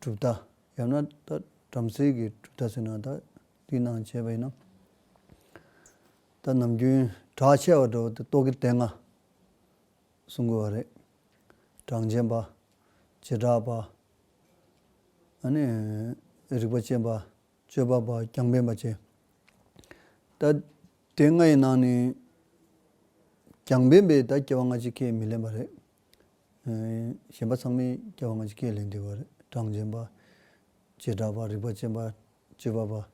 གྲུབ་མཐའ། ཡང་ན་བྲམ་ཟེ་གྱི་གྲུབ་མཐའ་ཟེར་ན་ད་ཏིག་ནང་བྱས་པ་ཡིན་ནམ། ད་ནམ་རྒྱུན་བྲག་ཆེ་བ་འགྲོ་བ་དེ་ཏོག་གི་སྟེང་ན་གསུང་དགོས་བ་རེད། གྲངས་ཅན་པ། བྱེ་བྲག་པ། ཨ་ནི། རིག་པ་ཅན་པ། སྤྱོད་པ་པ་རྒྱང་པན་པ་བཅས། ད་དེ་ལྔ་ཡི་ནང་ནས་རྒྱང་པན་པའི་ད་སྐྱེ་བ་ལྔ་གཅིག་ཁས་མི་ལེན་པ་རེད། གཞན་པ་ཚང་མས་སྐྱེ་བ་སྔ་ཕྱི་སྐད་ལས་འདས་པར་གྲངས་ཅན་པ། བྱེ་བྲག་པ། རིག་པ་ཅན་པ། སྤྱི་བབ་པ།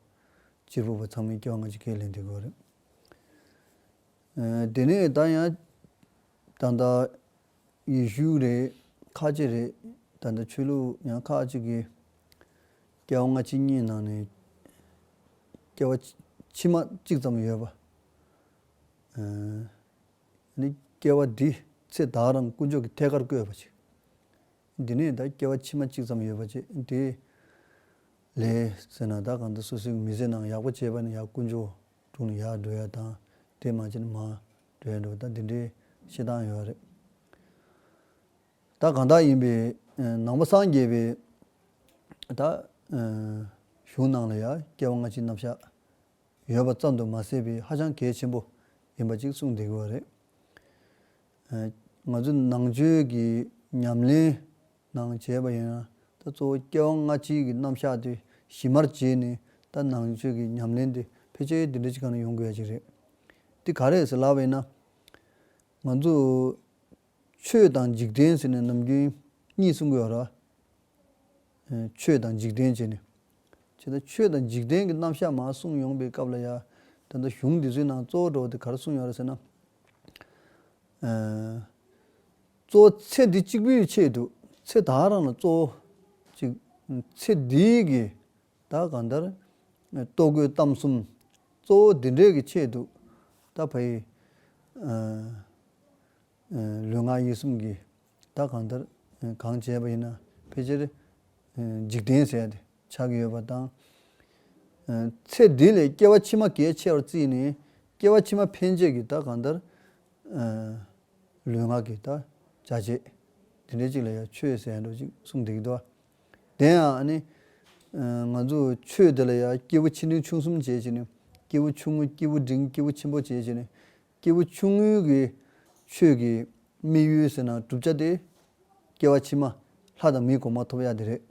སྤྱིར་བུ་པ་ཚང་མས་སྐྱེ་བ་སྔ་ཕྱི་སྐད་ལས་འདས་དགོས་པ་རེད། དེ་ནས་ད་ཡང་ད་ལྟ་ཡེ་ཤུ་རེད། ཁ་ཅིག་རེད། ད་ལྟ་ཆོས་ལུགས་ཡང་ཁ་ཅིག་གིས་སྐྱེ་བ་སྔ་ཕྱི་གཉིས་ནང་ནས་སྐྱེ་བ་ཕྱི་མ་གཅིག་ཙམ་ཡོད་པ། ནི་སྐྱེ་བ་འདིའི་ཚེ་བདག་རང་དཀོན་མཆོག་གི་ཐད་ཀར་བསྐོས་པ་ཅིག། འདི་ནས་བདག་སྐྱེ་བ་ཕྱི་མ་གཅིག་ཙམ་ཡོད་པ་ཅིག་དེ། ལས་ཟེར་ན་བདག་གང་དུ་སོ་སོའི་མི་ཚེ་ནང་ཡག་པོ་སྤྱད་པ་ནི་ཡག་དཀོན་མཆོག་དྲུང་ནས་ཡག་འགྲོ་ཡ་དང་དེ་མ་སྤྱད་ན་མ་འགྲོ་ཡ་འགྲོ་བ་དང་འདི་འདྲའི་བཤད་སྟངས་ཡོད་རེད། བདག་གང་དག་ཡིན་པའི་ནང་པ་སངས་རྒྱས་པའི་བདག། གཞུང་ནང་ལ་ཡང་སྐྱེ་བ་སྔ་ཕྱི་རྣམ་གཞག། ཡོད་པ་ཙམ་དུ་མ་ཟད་པའི་ཧ་ཅང་གལ་ཆེན་པོ་ཡིན་པ་ཅིག་གསུངས་བསྡད་ཀྱི་བ་རེད། ང་ཚོས་ནང་ཆོས་ཀྱི་ཉམས་ལེན་ནང་བྱས་པ་ཡིན་ན་ད་གཙོ་བོ་སྐྱེ་བ་སྔ་ཕྱིའི་གི་རྣམ་གཞག་དེ་གཞི་མར་བྱས་ནས་ད་ནང་ཆོས་ཀྱི་ཉམས་ལེན་དེ་ཕལ་ཆེར་དེ་འདྲ་ཅིག་ག་ནས་ཡོང་དགོས་ཡ་ཅིག་རེད། དེ་ག་རེད་ཟེར་ལབ་པ་ཡིན་ན། ང་ཚོ། ཆོས་དང་འཇིག་རྟེན་ཟེར་ནས་ནམ་རྒྱུན་གཉིས་གསུངས་གི་ཡོད་རེད། ཆོས་དང་འཇིག་རྟེན་བྱས་ནས། བྱས་ཙང་ཆོས་དང་འཇིག་རྟེན་གྱི་རྣམ་བཞག་མ་གསུངས་ཡོང་པའི་སྐབས་ལ་ཡང་དེ་ལྟར་གཞུང་འདི་ཚོའི་ནང་གཙོ་བོ་གྲོགས་དེ་གར་གསུངས་ཡོང་རེད་ཟེར་ན། གཙོ་བོ་ཚེ་འདི་གཅིག་པུའི་ཆེད་དུ་ཚེ་དག་རང་ལ་གཙོ་བོ་གཅིག་ཚེ་འདི་གི་ད་གང་ལྟར་ལྟོ་གོས་གཏམ་གསུམ་གཙོ་བོ་འདི་འདྲས་ཀྱི་ཆེད་དུ་ད་ཕ་ཡི། ལུས་ངག་ཡིད་གསུམ་གྱིས་བདག་གང་ལྟར་གང་བྱས་པ་ཡིན་ན་ཕལ་ཆེར་འཇིག་རྟེན་ཟད་དེ་ཆགས་ཀྱི་ཡོད་པ་དང། ཚེ་འདི་ལས་སྐྱེ་བ་ཕྱི་མ་གལ་ཆེ་བར་བརྩིས་ནས་སྐྱེ་བ་ཕྱི་མ་ཕན་ཆད་ཀྱི་བདག་གང་ལྟར་ལུས་ངག་གིས་བདག་བྱ་བྱེད་དེ་འདྲའི་གཅིག་ལ་ཡང་ཆོས་ཟད་འགྲོ་ཅིག་གསུངས་འདུག་གདའ། དེ་ཡང་ང་ཚོས་ཆོས་དེ་ལ་ཡང་སྐྱེས་བུ་ཆེ་འབྲིང་ཆུང་གསུམ་བྱེད་ཅེས་ནས་སྐྱེས་བུ་ཆུང་ངུ་སྐྱེས་བུ་འབྲིང་སྐྱེས་བུ་ཆེན་པོ་བྱེད་ཅེས་ནས་སྐྱེས་བུ་ཆུང་ངུའི་གི་ཆོས་ཀྱི་དམིགས་ཡུལ་ཟེར་ན་བསྒྲུབ་བྱ་སྟེ། སྐྱེ་བ་ཕྱི་མ་ལྷ་དང་མིའི་གོང་མ་ཐོབ་ཡ་དེ་རེད།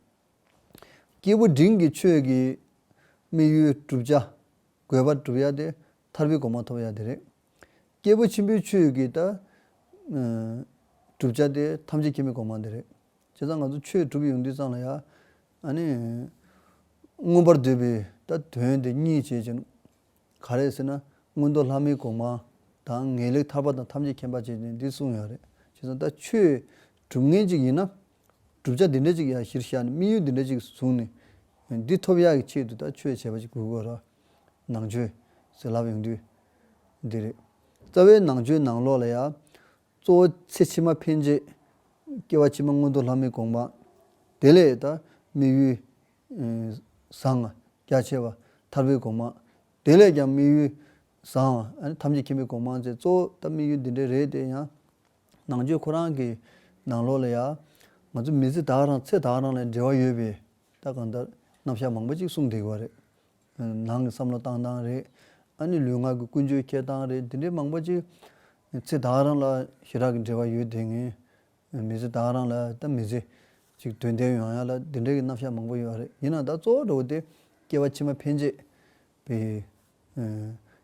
སྐྱེས་བུ་འབྲིང་གི་ཆོས་ཀྱི་དམིགས་ཡུལ་བསྒྲུབ་བྱ་དགོས་པ་བསྒྲུབ་ཡ་སྟེ་ཐར་བའི་གོང་མ་ཐོབ་ཡ་དེ་རེད། སྐྱེས་བུ་ཆེན་པོའི་ཆོས་ཀྱི་ད་བསྒྲུབ་བྱ་སྟེ་ཐམས་ཅད་མཁྱེན་པའི་གོང་མ་དེ་རེད། བྱས་ཙང་ང་ཚོ་ཆོས་བསྒྲུབ་ཡོང་དུས་ཙང་ལ་ཡ། མངོན་པར་འདོད་པའི་ད་དོན་དེ་གཉིས་བྱེད་ཅིང། ག་རེ་ཟེར་ན་སྔོན་མདོ་ལྷ་མོའི་གོང་མ་དང་ངེས་ལེགས་ཐར་པ་དང་ཐམས་ཅད་མཁྱེན་པ་ཅན་འདི་གསུངས་ཡོད་རེད་བྱས་ཙང་ད་ཁྱོད་གྲུབ་ངན་ཅིག་ཡིན་ན་བསྒྲུབ་བྱ་འདི་འདྲ་ཅིག་ཡང་གཞིར་བཞག་ནས་དམིགས་ཡུལ་འདི་འདྲ་ཅིག་བཟུང་ནས་འདི་ཐོབ་ཡག་གི་ཆེད་དུ་ད་ཁྱོད་བྱས་པ་ཅིག་གུས་དགོས་རོགས་ནང་ཆོས་ཟེར་ལབ་ཡོང་དུས་འདི་རེད། རྩ་བའི་ནང་ཆོས་ནང་ལོགས་ལ་ཡང་གཙོ་བོ་ཚེ་ཕྱི་མ་འཕེན་བྱེད་སྐྱེ་བ་ཕྱི་མ་སྔོན་མདོ་ལྷ་མོའི་གོང་མ་དེ་ལས་ད་དམིགས་ཡུལ་བཟང། རྒྱ་ཆེ་བ། ཐར་པའི་གོ་མང། དེ་ལས་ཀྱང་དམིགས་ཡུལ། བཟང། ཐམས་ཅད་མཁྱེན་པའི་གོ་མང་ཚེ་གཙོ་བོ་ད་དམིགས་ཡུལ་འདི་འདྲའི་རེད་དེ་ཡང། ནང་ཆོས་ཁོ་རང་གི། ནང་ལོག་ལ་ཡང། ང་ཚོ་མི་ཚེ་དག་རང་ཚེ་དག་རང་ལ་འབྲེལ་བ་ཡོད་པས། ད་གང་ལྟར། རྣམ་བཞག་མང་པོ་ཅིག་གསུངས་བསྡད་ཡོད་པ་རེད། ནང་གི་བསམ་བློ་བཏང་སྟངས་རེད། ཨ་ནི་ལུས་ངག་གི་ཀུན་སྤྱོད་འཁྱེར་སྟངས་རེད་འདི་འདྲའི་མང་པོ་ཅིག། ཚེ་དག་རང་ལ་ཞེ་དྲག་གི་འབྲེལ་བ་ཡོད་དེ་ངེས། མི་ཚེ་དག་རང་ལ་ད་མི་ཚེ་གཅིག་དོན་ལྡན་ཡོང་ཡག་ལ་འདི་འདྲའི་གི་རྣམ་བཞག་མང་པོ་ཡོད་རེད་ཡིན་ན་ད་གཙོ་བོ་འགྲོ་བ་དེ་སྐྱེ་བ་ཕྱི་མ་ཕན་ཆད་པའི་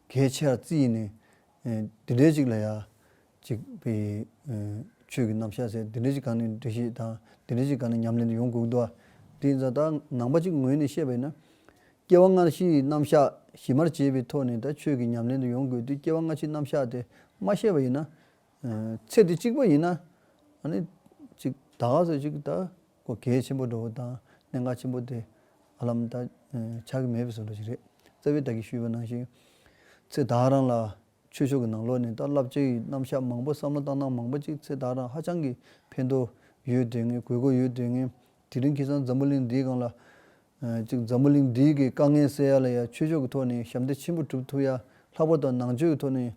གལ་ཆེ་བར་རྩི་ཡིན་ནས་འདི་འདྲའི་གཅིག་ལ་ཡག་གཅིག་པའི་ཆོས་གི་རྣམ་བཞག་ཟེར་འདི་འདྲའི་གཅིག་གང་ནས་འབྲི་ཤེས་དང་འདི་འདྲའི་གཅིག་གང་ནས་ཉམས་ལེན་དུ་ཡོང་དགོས་འདུག་དེ་ཡིན་ཙང་ད་ནང་པ་གཅིག་ངོས་ནས་བཤད་པ་ཡིན་ན། སྐྱེ་བ་སྔ་ཕྱིའི་རྣམ་བཞག་གཞི་མར་བྱས་པའི་ཐོག་ནས་ད་ཆོས་ཀྱི་ཉམས་ལེན་དུ་ཡོང་དགོས་དུས་སྐྱེ་བ་སྔ་ཕྱིའི་རྣམ་བཞག་དེ་མ་ཤེས་པ་ཡིན་ན། ཚེ་འདི་གཅིག་པོ་ཡིན་ན། གཅིག་ད་ག་ཟེར་གཅིག་ད་གོ་གལ་ཆེན་པོ་འགྲོ་བ་དང་གནད་འགག་ཆེན་པོ་དེ་ཨ་ལམ་ད་ཆགས་ཀྱི་མེད་པའི་ཟེར་བ་ཞིག་རེད། རྩ་བའི་ད་གིས་ཞུས་པ་ནང་བཞིན། ཚེ་ད་རང་ལ་ཆོས་ཕྱོགས་ཀྱི་ནང་ལོགས་ནས་ད་བསླབ་བྱ་ཡི་རྣམ་གཞག་མང་པོ་བསམ་བློ་བཏང་སྟངས་མང་པོ་གཅིག་ཚེ་ད་རང་ཧ་ཅང་གི་ཕན་ཐོ་ཡོད་དོན་ངན་དགོས་མཁོ་ཡོད་དོན་ངན་དེ་རིང་ཁྱེད་ཚང་འཛམ་བུ་གླིང་འདིའི་སྒང་ལ། གཅིག་འཛམ་བུ་གླིང་འདིའི་གི་དཀའ་ངལ་སེལ་ཡ་ལ་ཡ་ཆོས་ཕྱོགས་ཀྱི་ཐོག་ནས་ཞབས་འདེགས་ཆེན་པོ་གྲུབ་ཐུབ་ཡ་ལྷག་པར་དུ་ནང་ཆོས་ཀྱི་ཐོག་ནས་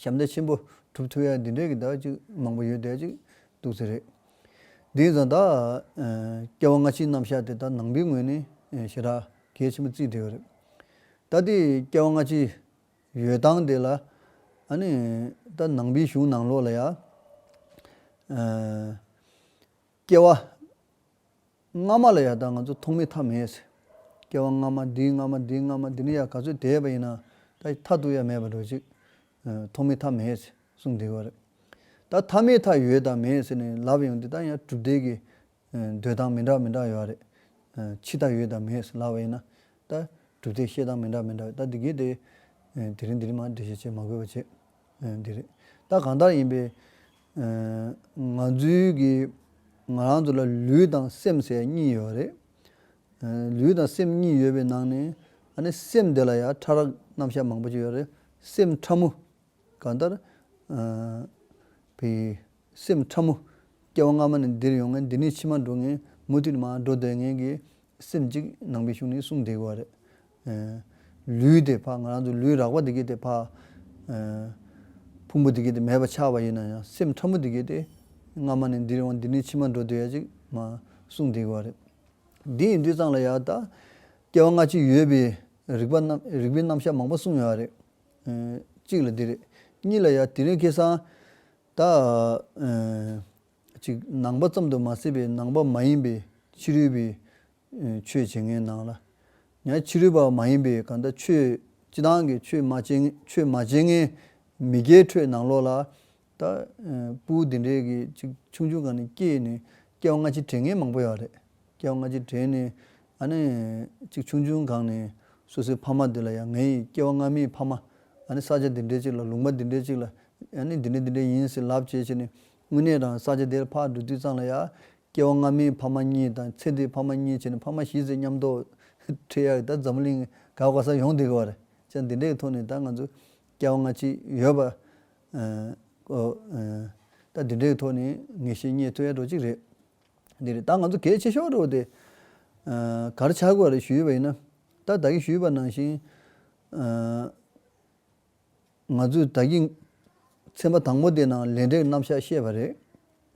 ཞབས་འདེགས་ཆེན་པོ་གྲུབ་ཐུབ་ཡག་འདི་འདྲའི་གི་དག་ཅིག་མང་པོ་ཡོད་བསྡད་ཅིག་འདུག་ཚེ་རེད། དེ་ཡིན་ཙང་དག་སྐྱེ་བ་སྔ་ཕྱིའི་རྣམ་གཞག་དེ་དག་ནང་པའི་ངོས་ནས་ཞེ་དྲག་གལ་ཆེན་པོ་བརྩིས་བསྡད་ཡོད་རེད། ད་ལྟའི་སྐྱེ་བ་སྔ་ཕྱིའི་ཡོད་སྟངས་དེ་ལ་ནི་ད་ནང་པའི་གཞུང་ནང་ལོགས་ལ་ཡང། སྐྱེ་བ། སྔ་མ་ལ་ཡང་ད་ང་ཚོ་མཐོང་མེད་ཐ་མལ་ཟེར། སྐྱེ་བ་སྔ་མ་འདིའི་སྔ་མ་འདིའི་སྔ་མ་འདི་ནི་ཡང་ག་ཚོད་དེས་པ་ཡིན་ནའང་ད་ཐ་དུ་ཡང་མེད་པར་འགྲོ་ཅིག། མཐོང་མེད་ཐ་མལ་ཟེར་གསུངས་འདི་གོ་རེད། ད་ཐ་མའི་མཐའ་ཡོད་དང་མེད་ཟེར་ནས་ལབ་ཡོང་འདི་ད་ཡང་གྲུབ་བདེ་གི་འདོད་སྟངས་མི་འདྲ་མི་འདྲ་ཡོད་རེད། ཕྱི་མཐའ་ཡོད་དང་མེད་ཟེར་ལབ་པ་ཡིན་ན་ད་གྲུབ་བདེ་བཤད་སྟངས་མི་འདྲ་མི་འདྲ་ཡོད་ད་འདི་གས་དེ་དེ་རིང་འདི་རིང་མ་འདྲི་བཤད་བྱེད་མ་དགོས་པ་བྱེད། འདི་རེད། ད་གང་ལྟར་ཡིན་པའི། ང་ཚོའི་གི། ང་རང་ཚོ་ལ་ལུས་དང་སེམས་ཟེར་གཉིས་ཡོད་རེད། ལུས་དང་སེམས་གཉིས་ཡོད་པའི་ནང་ནས། ཨ་ནི་སེམས་དེ་ལ་ཡང་ཕྲ་རགས་རྣམ་བཞག་མང་པོ་ཅིག་ཡོད་རེད། སེམས་ཕྲ་མོ། གང་ལྟར། བི། སེམས་ཕྲ་མོ། སྐྱེ་བ་སྔ་མ་ནས་འདིར་ཡོང་ངེས་འདི་ནས་ཕྱི་མ་འགྲོ་ངེས་མུ་མཐུད་མ་འགྲོ་སྡོད་ངེས་ཀྱི་སེམས་གཅིག་ནང་པའི་གཞུང་ནི་གསུངས་བསྡད་དགོས་པ་རེད། ལུས་དེ་འཕགས་ང་རང་ཚོ་ལུས་རགས་པ་འདི་གས་དེ་འཕགས། ཕུང་པོ་འདི་གས་དེ་མེད་པ་ཆགས་པ་ཡིན་ན་ཡང་སེམས་ཕྲ་མོ་འདི་གས་དེ་སྔ་མ་ནས་འདིར་ཡོང་འདི་ནས་ཕྱི་མ་འགྲོ་སྡོད་ཡ་གཅིག་མ་གསུངས་བསྡད་དགོས་པ་རེད། འདི་ཡིན་དུས་ཚང་ལ་ཡང་དག་སྐྱེ་བ་སྔ་ཕྱི་ཡོད་པའི་རིག་པ་རྣམས་རིག་པའི་རྣམ་གཞག་མང་པོ་གསུངས་ཡོད་པ་རེད། གཅིག་ལ་འདི་རེད། གཉིས་ལ་ཡང་དེ་རིང་ཁེ་སང། ད་ཅིག་ནང་པ་ཙམ་དུ་མ་ཟད་པའི་ནང་པ་མ་ཡིན་པའི་ཕྱི་རོལ་པའི་ཆོས་བྱེད་མཁན་ནང་ལ་ཡང་ཕྱི་རོལ་པ་མ་ཡིན་པའི་གང་ལྟར་ཆོས་སྤྱི་དང་གི་ཆོས་མ་བྱེད་ཆོས་མ་བྱེད་མཁན་མི་རྒྱའི་ཁྲོད་ནང་ལོགས་ལ་ད་སྤུའུ་འདི་འདྲའི་གི་ཅིག་ཆུང་ཆུང་ག་ནས་སྐྱེས་ནས་སྐྱེ་བ་སྔ་ཕྱི་དྲན་མཁན་མང་པོ་ཡོད་རེད། སྐྱེ་བ་སྔ་ཕྱི་དྲན་ནས་ཨ་ནི། ཅིག་ཆུང་ཆུང་གང་ནས་སོ་སོའི་ཕ་མ་འདི་ལ་ཡང་ངའི་སྐྱེ་བ་སྔ་མའི་ཕ་མ། ཨ་ནི་ས་ཆ་འདི་འདྲའི་ཅིག་ལ་ལུང་པ་འདི་འདྲའི་ཅིག་ལ་ཨ་ནི་འདི་འདྲ་འདི་འདྲ་ཡིན་ཟེར་ལབ་བྱས་བྱས་ནས་དངོས་གནས་རང་ས་ཆ་དེར་ཕར་འགྲོ་དུས་ཙང་ལ་ཡང། སྐྱེ་བ་སྔ་མའི་ཕ་མ་གཉིས་དང་ཚེ་འདིའི་ཕ་མ་གཉིས་བྱས་ནས་ཕ་མ་བཞི་ཟེར་སྙམ་དོག། ཁྲེལ་ཡ་གི་ད་འཛམ་བུ་གླིང་ག་བ་ག་སར་ཡོང་བསྡད་གི་བ་རེད་ཅག་འདི་འདྲའི་ཐོག་ནས་ད་ང་ཚོ། སྐྱེ་བ་སྔ་ཕྱི་ཡོད་པ། ད་འདི་འདྲའི་ཐོག་ནས་ངེས་ཤེས་རྙེད་ཐུབ་ཡ་འགྲོ་ཅིག་རེད། འདི་རེད་ད་ང་ཚོ་གལ་ཆེ་ཤོས་རེད་བ་དེ། གར་ཆག་དགོས་རེད་ཞུས་པ་ཡིན་ན། ད་ལྟ་གི་ཞུས་པ་ནང་བཞིན། ང་ཚོས་ད་གི་ཚན་པ་དང་པོ་དེ་ནང་ལས་འབྲས་ཀྱི་རྣམ་བཞག་ཤེས་པ་རེད།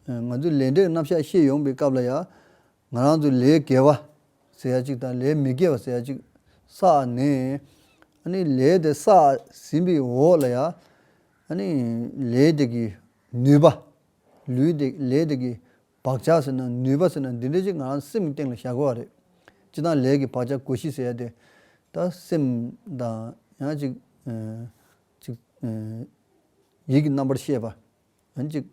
ང་ཚོས་ལས་འབྲས་ཀྱི་རྣམ་བཞག་ཤེས་ཡོང་པའི་སྐབས་ལ་ཡང། ང་རང་ཚོས་ལས་དགེ་བ་ཟེར་ཡ་གཅིག་དང་ལས་མི་དགེ་བ་ཟེར་ཡ་གཅིག་བསགས་ནས། ཨ་ནི་ལས་དེ་བསགས་ཟིན་པའི་འོག་ལ་ཡང། ཨ་ནི་ལས་དེ་གི་ནུས་པ། ལུས་དེ་ལས་དེ་གི་བག་ཆགས་ཟེར་ན་ནུས་པ་ཟེར་ན་འདི་འདྲ་ཅིག་ང་རང་སེམས་ཀྱི་སྟེང་ལ་བཞག་དགོས་བ་རེད། སྤྱི་དང་ལས་ཀྱི་བག་ཆགས་གོ་གཞི་ཟེར་ཡ་དེ་ད་སེམས་དང་ཡང་ཅིག་ཅིག་ཡིད་ཀྱི་རྣམ་པར་ཤེས་པ་ཡང་ཅིག་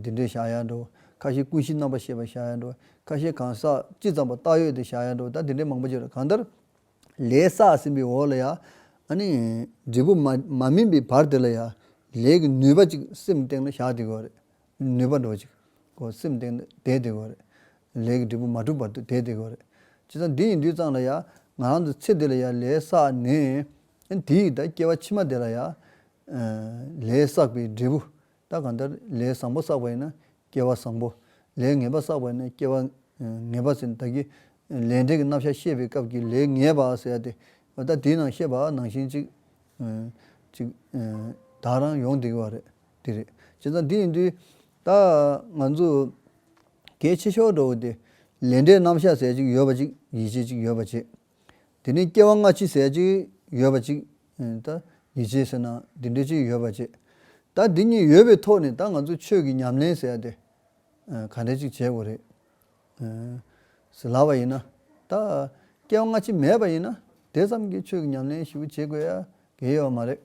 འདི་འདྲས་བཞག་ཡ་འགྲོ་ཁ་ཤས་ཀུན་གཞི་རྣམ་པར་ཤེས་པ་བཞག་ཡ་འགྲོ་ཁ་ཤས་གང་ཟག་ཅི་ཙམ་པ་བཏགས་ཡོད་དེ་བཞག་ཡ་འགྲོ་ད་འདི་འདྲས་མང་པོ་བྱས་རོགས་གང་ལྟར་ལས་བསགས་ཟིན་པའི་འོག་ལ་ཡང། འབྲས་བུ་མ་སྨིན་པའི་བར་དེ་ལ་ཡང། ལས་ཀྱི་ནུས་པ་ཅིག་སེམས་སྟེང་ན་བཞག་བསྡད་དགོས་པ་རེད། ནུས་པ་འགྲོ་བ་ཅིག། སེམས་སྟེང་ན་བསྡད་བསྡད་དགོས་པ་རེད། ལས་ཀྱི་འབྲས་བུ་མ་གྲུབ་བར་དུ་བསྡད་བསྡད་དགོས་པ་རེད། བྱས་ཙང་འདི་ཡི་དུས་ཙང་ལ་ཡང། ང་རང་ཚོ་ཚེ་འདི་ལ་ཡང་ལས་བསགས་ནས། དེ་ཡི་ད་སྐྱེ་བ་ཕྱི་མ་དེ་ལ་ཡང། ལས་བསགས་པའི་འབྲས་བུ། ད་གང་ལྟར་ལས་བཟང་པོ་བསགས་པ་ཡིན་ན་སྐྱེ་བ་བཟང་པོ། ལས་ངན་པ་བསགས་པ་ཡིན་ན་སྐྱེ་བ་ངན་པ་ཟེར་བདག་གི། ལས་འབྲས་ཀྱི་རྣམ་གཞག་ཤེས་པའི་སྐབས་ཀྱི་ལས་ངན་པ་ཟེར་ཡ་དེ། ད་དེའི་ནང་ཤེས་པ་ནང་བཞིན་ཅིག། ཅིག། དག་རང་ཡོང་བསྡད་ཀྱི་བ་རེད། དེ་རེད། བྱས་ཙང་དེ་ཡིན་དུས། ད། ང་ཚོ། གལ་ཆེ་ཤོས་འགྲོ་བ་དེ། ལས་འབྲས་རྣམ་གཞག་ཟེར་ཅིག་ཡོད་པ་ཅིག་ཡིད་ཆེས་ཅིག་ཡོད་པ་བྱེད། དེ་ནས་སྐྱེ་བ་སྔ་ཕྱི་ཟད་ཅིག་ཡོད་པ་ཅིག། ད་ཉི་བྱེད་ཟེར་ན་འདི་འདྲས་ཅིག་ཡོད་པ་ཅིག། ད་འདི་གཉིས་ཡོད་པའི་ཐོག་ནས་ད་ང་ཚོ་ཆོས་ཀྱི་ཉམས་ལེན་ཟེར་ཏེ། ག་འདྲས་ཅིག་བྱེད་དགོས་རེད། ཟེར་ལབ་པ་ཡིན་ན། ད་སྐྱེ་བ་སྔ་ཕྱི་མེད་པ་ཡིན་ན་དེ་ཙམ་གྱིས་ཆོས་ཀྱི་ཉམས་ལེན་ཞིག་བྱེད་དགོས་ཡ་གི་ཡོད་མ་རེད།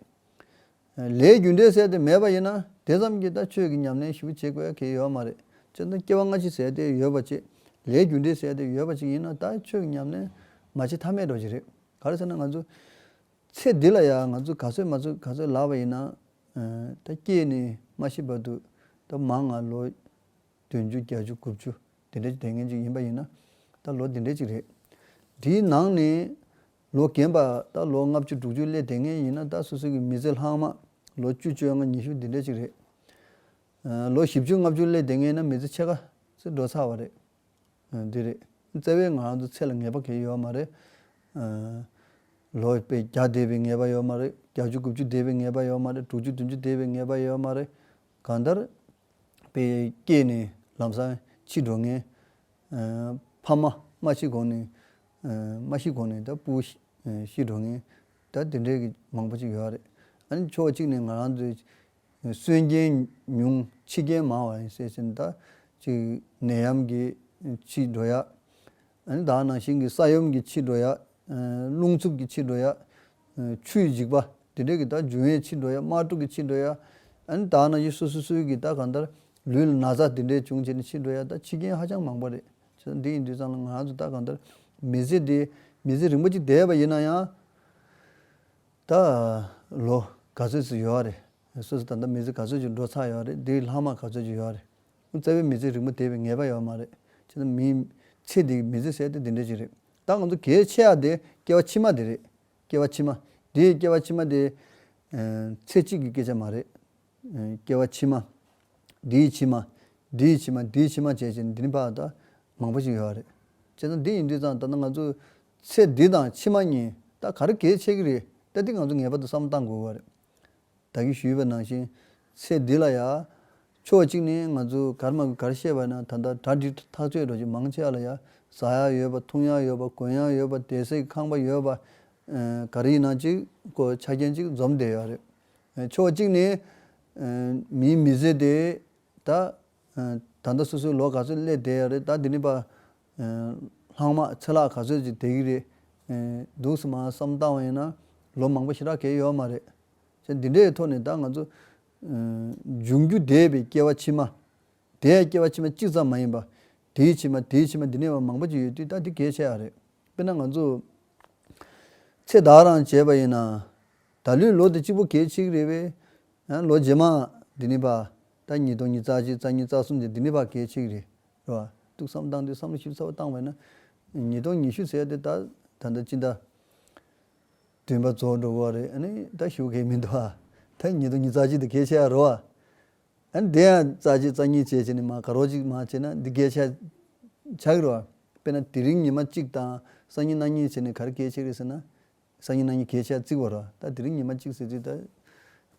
ལས་རྒྱུ་འབྲས་ཟད་དེ་མེད་པ་ཡིན་ན་དེ་ཙམ་གྱིས་ད་ཆོས་ཀྱི་ཉམས་ལེན་ཞིབ་བྱེད་དགོས་ཀྱི་ཡོད་མ་རེད་ཅེས་དང་སྐྱེ་བ་སྔ་ཕྱི་ཟད་དེ་ཡོད་པ་ཅིག་ལས་རྒྱུ་འབྲས་ཟད་དེ་ཡོད་པ་ཅིག་ཡིན་ན་ད་ཆོས་ཀྱི་ཉམས་ལེན་མ་བྱེད་ཐབས་མེད་འགྲོ་གི་རེད་ག་རེ་ཟེར་ན་ང་ཚོས། ཚེ་འདི་ལ་ཡང་ང་ཚོས་ག་ཚོད་མ་ཚོད་ག་ཚོད་ལགས་པ་ཡིན་ན། ད་སྐྱེས་ནས་མ་ཤི་བར་དུ་ད་མང་ང་ལོ་བདུན་བཅུ་བརྒྱ་བཅུ་དགུ་བཅུ་དེ་འདྲའི་ལྡན་མཁན་ཅིག་ཡིན་པ་ཡིན་ན་ད་ལོ་འདི་འདྲའི་ཅིག་རེད། དེའི་ནང་ནས་ལོ་རྒན་པ་ད་ལོ་ལྔ་བཅུ་དྲུག་ཅུ་སླེ་དེ་ངན་ཡིན་ན་ད་སོ་སོ་གི་མི་ཚེ་ལྷག་མ་ལོ་བཅུ་བཅོ་ལྔ་ཉི་ཤུ་འདི་འདྲ་ཅིག་རེད། ལོ་བཞི་བཅུ་ལྔ་བཅུ་སླེ་དེ་ངན་ན་མི་ཚེ་ཕྱེད་ཀ་ཚེ་འགྲོ་ཚར་བ་རེད། འདི་རེད། བརྩེ་བའི་ང་རང་ཚོ་ཚེ་ལ་ངེས་པ་གས་ཡོད་བ་མ་རེད། ལོ་བརྒྱ་བརྒྱ་འདས་པའི་ངེས་པ་ཡོད་མ་རེད། བརྒྱ་བཅུ་དགུ་བཅུ་འདས་པའི་ངེས་པ་ཡོད་མ་རེད་དྲུག་ཅུ་བདུན་ཅུ་འདས་པའི་ངེས་པ་ཡོད་མ་རེད། གང་ལྟར། པས་སྐྱེས་ནས་ལམ་སང་ཕྱི་འགྲོ་ངན། ཕ་མ་སྨྲ་ཤེས་གོང་ནས། མ་ཤི་གོང་ནས་ད་སྤུ་ཤི་འགྲོ་ངེས། ད་དེ་འདྲའི་གི་མང་པོ་ཅིག་ཡོད་རེད། ཨ་ནི་ཕྱོགས་གཅིག་ནས་ང་རང་ཚོའི་གསོན་རྐྱེན་ཉུང་འཆི་རྐྱེན་མང་བ་ཡིན་ཟེར་ཕྱིན་ད་ཅིག་ནད་ཡམས་ཀྱི་འཆི་འགྲོ་ཡ། ཨ་ནི་དྭགས་ནང་བཞིན་གྱི་ས་ཡོམ་གྱི་འཆི་འགྲོ་ཡ། རླུང་འཚུབ་ཀྱི་འཆི་འགྲོ་ཡ། ཆུའི་འཇིག་པ་དེ་འདྲའི་གི་ད་འཇུ་བའི་འཆི་འགྲོ་ཡ་དམག་འཁྲུག་གི་འཆི་འགྲོ་ཡ། ཨ་ནི་དྭགས་ན་གཞི་སུ་སུ་སུའི་གི་ད་གང་ལྟར་ལུས་ལ་ན་ཚ་དེ་འདྲའི་བྱུང་བྱས་ནས་འཆི་འགྲོ་ཡ་ད་འཆི་རྐྱེན་ཧ་ཅང་མང་པོ་རེད། ཚེ་འདི་ཡི་འདུས་གཙང་ལ་ང་རང་ཚོས་ལྟ་གང་ལྟར་མི་ཚེ་འདི་མི་ཚེ་རིང་པོ་གཅིག་འདས་པ་ཡིན་ན་ཡང། ད་ལོ་ག་ཚོད་ཅིག་ཡོད་རེད། སོ་སོ་ད་ལྟ་མི་ཚེ་ག་ཚོད་ཅིག་འགྲོ་ཚར་ཡོད་རེད་འདིའི་ལྷག་མ་ག་ཚོད་ཅིག་ཡོད་རེད། བཙལ་བས་མི་ཚེ་རིང་པོ་འདས་པའི་ངེས་པ་ཡོད་མ་རེད། ཅི་ན་མིའི་ཚེ་འདི་ཡི་མི་ཚེ་ཟེར་ཏེ་འདི་འདྲ་ཅིག་རེད། ད་ང་ཚོ་གལ་ཆེ་ཡག་དེ་སྐྱེ་བ་ཕྱི་མ་དེ་རེད། སྐྱེ་བ་ཕྱི་མ། འདིའི་སྐྱེ་བ་ཕྱི་མ་དེ། ཚེ་གཅིག་གི་སྐད་ཆ་མ་རེད། སྐྱེ་བ་ཕྱི་མ། འདིའི་ཕྱི་མ། འདིའི་ཕྱི་མ་འདིའི་ཕྱི་མ་བྱས་བྱས་ནས་འདི་ནི་འཕགས་ད་མང་པོ་ཞིག་ཡོད་རེད། བྱས་ཙང་འདི་ཡིན་དུས་ཙང་ད་ནི་ང་ཚོ་ཚེ་འདི་དང་ཕྱི་མ་གཉིས་ད་ག་རེ་གལ་ཆེ་གི་རེད་ད་འདི་ང་ཚོ་ངེས་པར་དུ་བསམ་བློ་བཏང་དགོས་པ་རེད། བདག་གིས་ཞུས་པའི་ནང་བཞིན་ཚེ་འདི་ལ་ཡ། ཕྱོགས་གཅིག་ནས་ང་ཚོས་གར་མ་གི་གར་ཤེས་པ་ཡིན་ན་ད་ལྟ་གྲ་སྒྲིག་ཐག་ཆོད་འགྲོ་རྒྱུ་མང་ཆེ་བ་ལ་ཡ་ཟ་ཡག་ཡོད་པ་འཐུང་ཡག་ཡོད་པ་གོན་ཡག་ཡོད་པ་བསྡད་ཟེགས་ཁང་པ་ཡོད་པ། ག་རེ་ཡིན་ན་ཅིག་གོ་ཆ་རྐྱེན་ཅིག་འཛོམས་བསྡད་ཡོད་རེད། ཕྱོགས་གཅིག་ནས། མིའི་མི་བཟོས་ཏེ། ད་ལྟ་སོ་སོའི་ལོ་ག་ཚོད་སླེབས་བསྡད་རེད་ད་འདི་ནས་པ། ལྷག་མ་ཚེ་ལྷག་ག་ཚོད་ཅིག་བསྡད་ཀྱི་རེད། འདུག་སེམས་མ་བསམ་བཏང་བ་ཡིན་ན། ལོ་མང་པོ་ཞེ་དྲག་གས་ཡོད་མ་རེད། ཞེས་འདི་འདྲའི་ཐོག་ནས་ད་ང་ཚོ། འབྱུང་འགྱུར་འདས་པའི་སྐྱེ་བ་ཕྱི་མ། དེས་སྐྱེ་བ་ཕྱི་མ་གཅིག་ཙམ་མ་ཡིན་པར། དེའི་ཕྱི་མ་དེའི་ཕྱི་མ་འདི་ནས་བ་མང་པོ་ཅིག་ཡོད་དུས་ད་འདི་གལ་ཆེ་ཨ་རེད། དཔེར་ན་ང་ཚོ། ཚེ་བདག་རང་བྱས་པ་ཡིན་ན། ད་ལོའི་ལོ་དེ་གཅིག་པོ་གལ་ཆེ་གི་རེད་བས། ལོ་རྗེས་མ། འདི་ནས་བ། ད་གཉིས་སྟོང་གཉིས་རྩ་གཅིག་རྩ་གཉིས་རྩ་གསུམ་བཅས་འདི་ནས་བ་གལ་ཆེ་གི་རེད། རེད་བ། འདུག་བསམ་བཏང་དུས་བསམ་བློ་ཞིབ་ཚགས་པོ་བཏང་བས་ན། ཉིས་སྟོང་ཉི་ཤུ་ཟེར་ཡ་དེ་ད། ད་ལྟ་ཅི་འདྲ། བདུན་པ་རྫོགས་འགྲོ་གི་བ་རེད། ཨ་ནི་ད་ཞུ་གི་མི་འདུག་བ། ད་གཉིས་སྟོང་གཉིས་རྩ་གཅིག་དེ་གལ་ཆེ་ཨ་རོ་བ། ཨ་འདི་ཡང་རྩ་གཅིག་རྩ་གཉིས་བྱས་བྱས་ནས་མ་དགའ་རོགས་གཅིག་མ་བྱས་ན་འདི་སྐད་ཆ་ཆགས་ཀྱི་རེད་བ། དཔེར་ན་དེ་རིང་ཉི་མ་གཅིག་དང་སང་ཉིན་གནངས་ཉིན་བྱས་ནས་ག་རེ་སྐད་ཆས་ཀྱི་ཟེར་ན། སང་ཉིན་གནངས་ཉིན་སྐད་ཆ་བརྩིགས་བ་རེད་བ། ད་དེ་རིང་ཉི་མ་གཅིག་ཟེར་དུས་ད་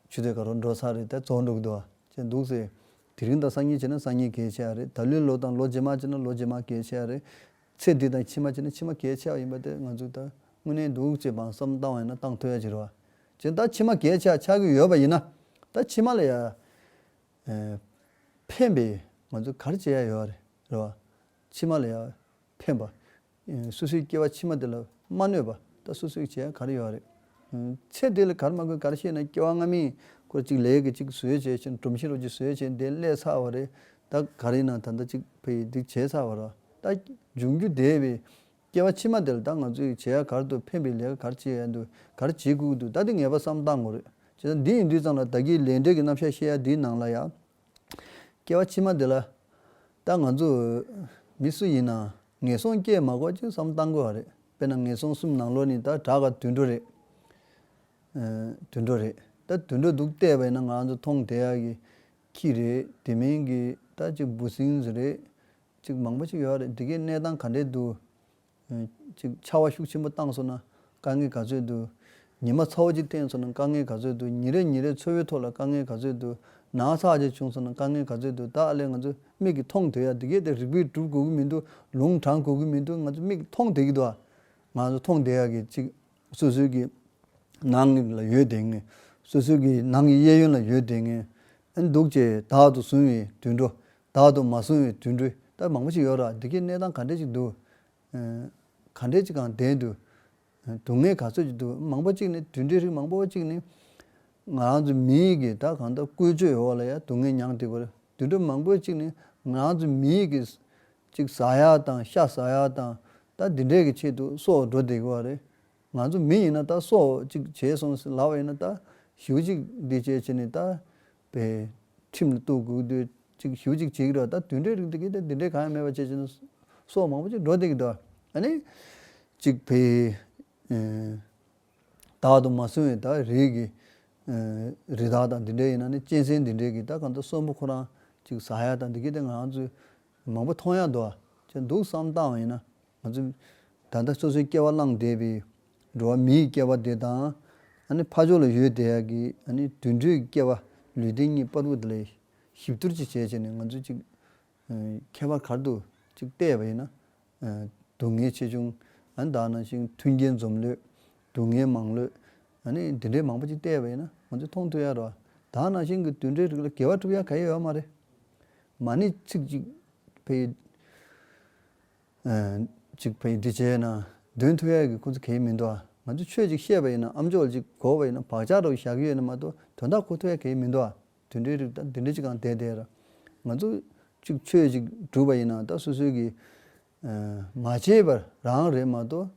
ཆུ་ཚོད་ག་རོགས་འགྲོ་ཚར་རེད་ད་བཙོག་འགྲོ་གི་འདུག་བ་བྱས་འདུག་ཟེར། དེ་རིང་དང་སང་ཉིན་བྱས་ན་སང་ཉིན་སྐད་ཆ་རེད་ད་ལོའི་ལོ་དང་ལོ་རྗེས་མ་བྱས་ན་ལོ་རྗེས་མ་སྐད་ཆ་རེད། ཚེ་འདི་དང་ཕྱི་མ་བྱས་ན་ཕྱི་མ་སྐད་ཆ་ཡིན་པ་དེ་ང་ཚོས་ད་དངོས་གནས་འདུག་ཅེས་སྦང་བསམ་བཏང་བ་ཡིན་ན་བཏང་ཐུབ་ཡ་གཅིག་རེད་བ། ཅན་ད་ཕྱི་མ་གས་ཆག་ཆག་གི་ཡོད་པ་ཡིན་ན། ད་ཕྱི་མ་ལ་ཡ། ཕན་པའི་ང་ཚོས་གར་བྱེད་ཡ་ཡོད་རེད་བ། ཕྱི་མ་ལ་ཡ། ཕན་པ། སུ་སུའི་སྐྱེ་བ་ཕྱི་མ་དེ་ལ་མ་གནོད་པ་ད་སུ་སུའི་བྱེད་ཡ་གར་ཡོད་རེད། ཚེ་འདི་ལ་གར་མ་དགོས་གར་ཤེས་ན་སྐྱེ་བ་སྔ་མིན་སྐོར་གཅིག་ལས་ཀྱི་གཅིག་བཟོས་བྱས་ཕྱིར་འབྲོམ་ཤིང་རོ་གཅིག་བཟོས་བྱས་འདི་སླད་ཚར་བ་རེད་ད་གར་ཡིན་ན་ད་ད་གཅིག་ཕ་ཡིས་འདི་བྱས་ཚར་བ་ར་ད། འབྱུང་རྒྱུ་འདས་པའི། སྐྱེ་བ་ཕྱི་མ་དེར་ད་ང་ཚོས་ཡིག་བྱེད་ཡ་གར་དུ་ཕེན་པའི་ལས་ཀ་གར་བྱེད་ཡ་འདུག་གར་བྱེད་དགོས་ཀྱི་འདུག་ད་དེ་ངེས་པ་བསམ་བཏང་ངོ་རེ། བྱས་ཙང་འདི་ཡིན་དུས་ཙང་ལ་ད་གིས་ལས་འབྲས་ཀྱི་རྣམ་བཤད་ཤེས་ཡ་འདིའི་ནང་ལ་ཡ། སྐྱེ་བ་ཕྱི་མ་དེ་ལ། ད་ང་ཚོ། མི་སུ་ཡིན་ནའང། ངན་སོང་སྐྱེས་མ་གོ་ཅིག་བསམ་བཏང་དགོས་བ་རེད། དཔེར་ན་ངན་སོང་གསུམ་ནང་ལོགས་ནི་ད་བྲག་ག་དུད་འགྲོ་རེད། དུད་འགྲོ་རེད། ད་དུད་འགྲོ་འདུག་བལྟས་པ་ཡིན་ན་ང་ཚོ་མཐོང་བལྟས་ཡ་གི། ཁྱི་རེད། དེ་མིན་གྱི། ད་ཅིག་འབུ་སྲིན་རེད། ཅིག་མང་པོ་ཅིག་ཡོད་རེད་འདི་གའི་གནས་སྟངས་ག་འདྲའི་འདུག་ཅིག་ཆར་བ་ཤུགས་ཆེན་པོ་བཏང་སོང་ན་དཀའ་ངལ་ག་ཚོད་འདུག་ཉི་མ་ཚ་བོ་ཅིག་བསྟན་སོང་ན་དཀའ་ངལ་ག་ཚོད་འདུག་ཉིན་རེ་ཉིན་རེ་འཚོ་བའི་ཐོག་ལ་དཀའ་ངལ་ག་ཚོད་འདུག་ནག་ཚགས་ཅིག་བྱུང་སོང་ན་དཀའ་ངལ་ག་ཚོད་འདུག་ད་ཨ་ལས་ང་ཚོས་མིག་གིས་མཐོང་འདོད་ཡ་འདི་གའི་ཐད་རིག་པས་སྒྲུབ་དགོས་ཀྱི་མི་འདུག་ལུང་དྲངས་དགོས་ཀྱི་མི་འདུག་ང་ཚོས་མིག་གིས་མཐོང་བསྡད་ཀྱི་འདུག་ཨ། ང་ཚོ་མཐོང་བསྡད་ཡ་གི་ཅིག་སོ་སོའི་གི་ནང་ལ་ཡོད་བསྡད་ངེས་སོ་སོའི་གི་ནང་གི་གཡས་གཡོན་ལ་ཡོད་བསྡད་ངེས་འདུག་ཅེས་དག་ཏུ་བཟུང་བའི་དུད་འགྲོ་བདག་ཏུ་མ་བཟུང་བའི་དུད་འགྲོའི་ལྟར་མང་པོ་ཞིག་ཡོད་ལ་འདི་གའི་གནས་སྟངས་ག་འདྲས་ཅིག་འདུག་ག་འདྲས་ཅིག་གང་བདེན་འདུག་སྡུག་བསྔལ་ག་ཚོད་ཅིག་འདུག་མང་པོ་གཅིག་ནི་དུད་འགྲོའི་རིགས་མང་པོ་གཅིག་ནི། ང་རང་ཚོ་མི་ཡིག་གིས་ད་གང་ལྟར་བཀོལ་སྤྱོད་ཡོད་བ་ལ་ཡང་སྡུག་བསྔལ་མྱངས་འདུག་པར་དུད་འགྲོ་མང་པོའི་གཅིག་ནི་ང་རང་ཚོ་མི་ཡིག་གིས་གཅིག་བཟའ་ཡག་དང་ཤ་བཟའ་ཡག་དང་ད་འདི་འདྲས་ཀྱི་ཆེད་དུ་སྲོག་འགྲོ་བསྡད་གི་བ་རེད། ང་ཚོ་མི་ཡིན་ན་ད་སྲོག་ཅིག་བྱས་སོང་ཟེར་ལབ་བ་ཡིན་ན་ད་ཞིའུ་ཅིག་འདི་བྱས་བྱས་ནས་ད་པའི་ཁྲིམས་ལ་གཏུགས་དགོས་དུས་གཅིག་ཞུ་གཅིག་བྱེད་ཀྱི་རོ་ད་དུད་འགྲོའི་རིགས་དེ་གས་དེ་དུད་འགྲོའི་གང་ཡང་མེད་པ་བྱས་བྱས་ན་སྲོག་མང་པོ་ཅིག་འགྲོ་བསྡད་ཀྱི་འདུག་ཨ་ནི། གཅིག་བས། བདག་ཏུ་མ་བཟུང་བའི་དག་རིགས་ཀྱི། རི་དྭགས་དང་དེ་འདྲས་ཡིན་ན་ནི་གཅན་གཟན་དེ་འདྲས་ཀྱི་ད་གང་ལྟར་གསོན་པོ་ཁོ་རང་གཅིག་ཟ་ཡག་དང་དེ་གས་དེ་ང་ཚོས་མང་པོ་མཐོང་ཡག་འདུག་ཨ་ཅེ་འདུག་བསམ་སྟངས་ཡིན་ན། ང་ཚོ་ད་ལྟ་སོ་སོའི་སྐྱེ་བ་བླངས་བསྡད་པའི་འགྲོ་བ་མིའི་སྐྱེ་བ་དེ་དང། ཕ་ཆོས་ལ་ཡོད་དེ་ཀྱི་དུད་འགྲོའི་སྐྱེ་བ་ལུས་རྟེན་གཉིས་སྤར་བུ་དེ་ལ་གཤིབ་བསྡུར་ཅིག་བྱས་བྱས་ནས་ང་ཚོས་ཅིག་ཁྱད་པར་གར་དུ་ཅིག་བལྟས་པ་ཡིན་ན། སྡུག་བསྔལ་ཆེ་ཆུང་དག་ན་ཞིང་མཐུན་རྐྱེན་འཛོམས་ལོས་སྡུག་བསྔལ་མང་ལོས། འདི་འདྲའི་མང་པོ་ཅིག་བལྟས་པ་ཡིན་ན་ང་ཚོས་མཐོང་ཐོས་ཡ་རོ། དག་ན་ཞིང་གི་དུད་འགྲོའི་རིགས་ལ་དགེ་བ་བསྒྲུབ་ཡ་ག་ཡོད་ཡོད་མ་རེད། མ་ནི་ཚིག་ཅིག་ཕལ། ཅིག་བས་འདི་བྱས་ན་དོན་ཐུག་ཡ་གི་ཁོ་ཚོ་གས་མི་འདུག་ཨ་ང་ཚོ་ཆོས་ཅིག་ཤེས་པ་ཡིན་ན་ཨམ་ཅོག་ཅིག་གོ་བ་ཡིན་ན་བག་ཆགས་རོ་བཞག་གི་ཡོད་ན་མ་ཏོ་དོན་དག་ཁོ་ཐུག་ཡ་གས་མི་འདུག་ཨ་དུད་འགྲོའི་རིགས་ད་དུད་འགྲོ་ཅིག་གང་དེ་དེར་ང་ཚོ་ཅིག་ཆོས་ཅིག་སྒྲུབ་པ་ཡིན་ན་ད་སོ་སོའི་གིས་མ་བྱས་པར་རང་རེད་མ་ཏོ་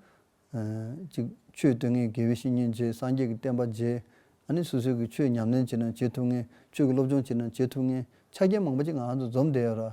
ཅིག་ཆོས་སྟོན་ངེས་དགེ་བའི་བཤེས་གཉེན་བརྗེ་སངས་རྒྱས་ཀྱི་བསྟན་པ་བརྗེ་ཨ་ནི་སོ་སོའི་གིས་ཆོས་ཉམས་ལེན་བྱེད་ན་བྱེད་ཐུབ་ངེས་ཆོས་ཀྱི་སློབ་སྦྱོང་བྱེད་ན་བྱེད་ཐུབ་ངེས་ཆ་རྐྱེན་མང་པོ་ཅིག་ང་ཚོ་འཛོམས་བསྡད་ཡོད་ར་